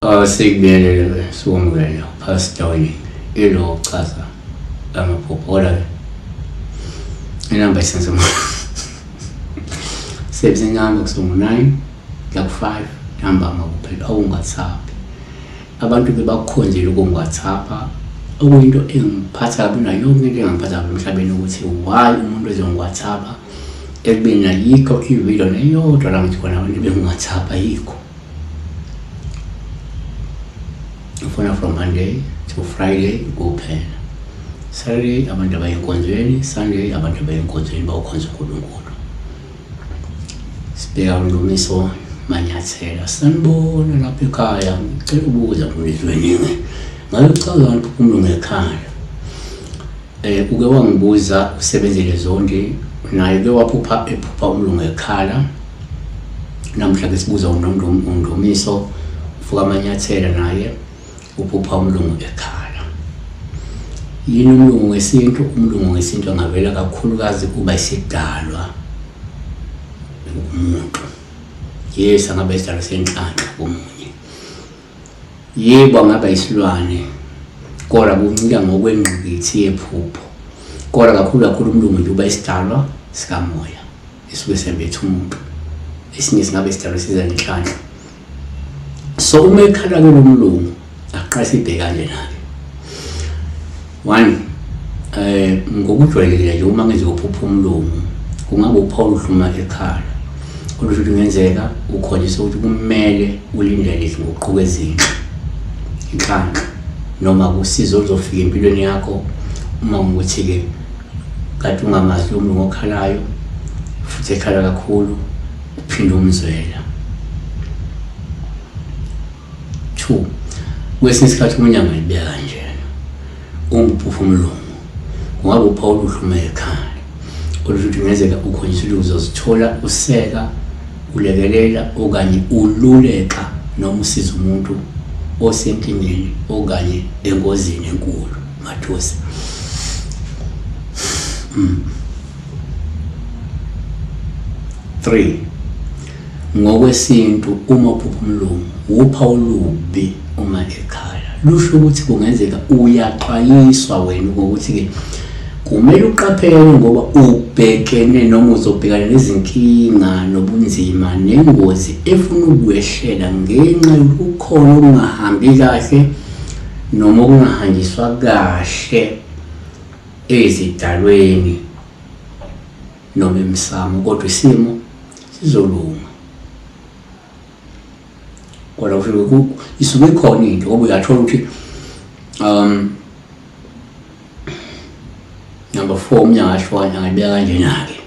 Awasekubiyelele siwumvelo phasi dawini ilo kuchaza amaphupho ola inamba isenze mona sebenzisa inamba kusuka ngo-nine laku-five ntambama kuphela awungasabi Abantu bebakukhonzile ukungiwathapha okuyinto engiphatha kabi nayo yonke into engangiphatha kabi emhlabeni ukuthi why umuntu ezongiwathapha ekubeni ayikho ividiyo neyodwa la ngithi khona abantu bengiwathapha ayikho ngifuna from monday to friday kuphela saturday abantu abayenkonzweni sunday abantu abayenkonzweni bawukhonza unkulunkulu Sibheka uNdumiso Manyathela. Sanibona lapha ekhaya. Ngicela ukubuza Mlizweningi. Ngabe kuchaza kanti uphumule ngekhaya. Eh uke wangibuza usebenzele zonke naye ke waphupha ephupha umlungu ekhala. Namhla ke sibuza uNdumiso ufuka amanyathela naye. Uphupha umlungu ekhala. Yini umlungu wesintu? Umlungu wesintu angavela kakhulukazi kuba isidalwa umuntu. Yes, angabe isidalwa senhlanhla komunye. Yebo angaba isilwane kodwa kuncika ngokwengqikithi yephupho. Kodwa kakhulu kakhulu umlungu nje uba isidalwa sikamoya esuke sembethe umuntu. Esinye singabe isidalwa siza nenhlanhla. so uma ekhala ke lomlungu aqase ibhekane nami one eh ngokujwayelekile nje uma ngizophupha umlungu kungakupha oluhluma ekhala olusho ukuthi kungenzeka ukholiswe ukuthi kumele ulindele izinguquko ezinhle inhlanhla noma kusizo oluzofika empilweni yakho uma ukuthi-ke kade ungamazi lo mlungu okhalayo futhi ekhala kakhulu Uphinde umzwela. 2. Kwesinye isikhathi umunye angayibeka kanjena. Umphufu umlungu. Kungaba uPaul uhluma ekhaya. Kodwa futhi ngezeka ukhonjiswa ukuthi uzozithola useka, ulekelela okanye ululeka noma usiza umuntu osenkingeni okanye engozini enkulu. Mathosi. Mm. 3 ngokwesintu uma uphupha umlungu wupha olubi uma ekhaya lusho ukuthi kungenzeka uyaxwayiswa wena ukuthi ke kumele uqaphele ngoba ubhekene noma uzobhekana nezinkinga nobunzima nengozi efuna ukwehlela ngenxa yokukhona okungahambi kahle noma okungahanjiswa kahle ezidalweni noma emsamo kodwa isimo sizolunga kodwa kusho isuke ikhona into ngoba uyathola ukuthi um number four umnyaka ashona angayibeka kanjena-ke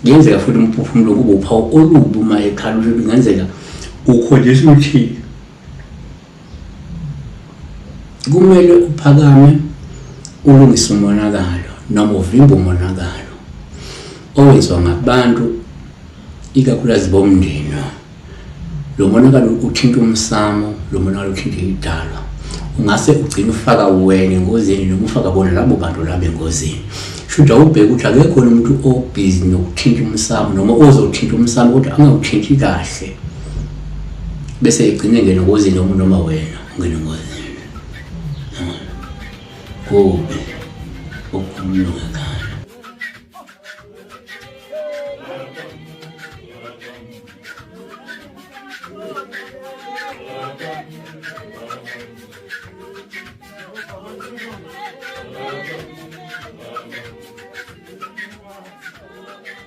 kuyenzeka futhi umphefumulo kube uphawu olubi uma ekhala ukuthi kungenzeka ukholiswa uthile kumele uphakame ulungise umonakalo noma uvimbe umonakalo owenziwa ngabantu ikakhulukazi bomndeni lo monakalo uthinta umsamo lo monakalo uthinta idalwa ungase ugcine ufaka wena engozini noma ufaka bona labo bantu labo engozini shuthi awubheke ukuthi akekho umuntu obhizi nokuthinta umsamo noma ozothinta umsamo kodwa angawuthinti kahle bese igcine ngene ngozini noma noma wena ungene ngozini kubi ukukhuluma ngekhaya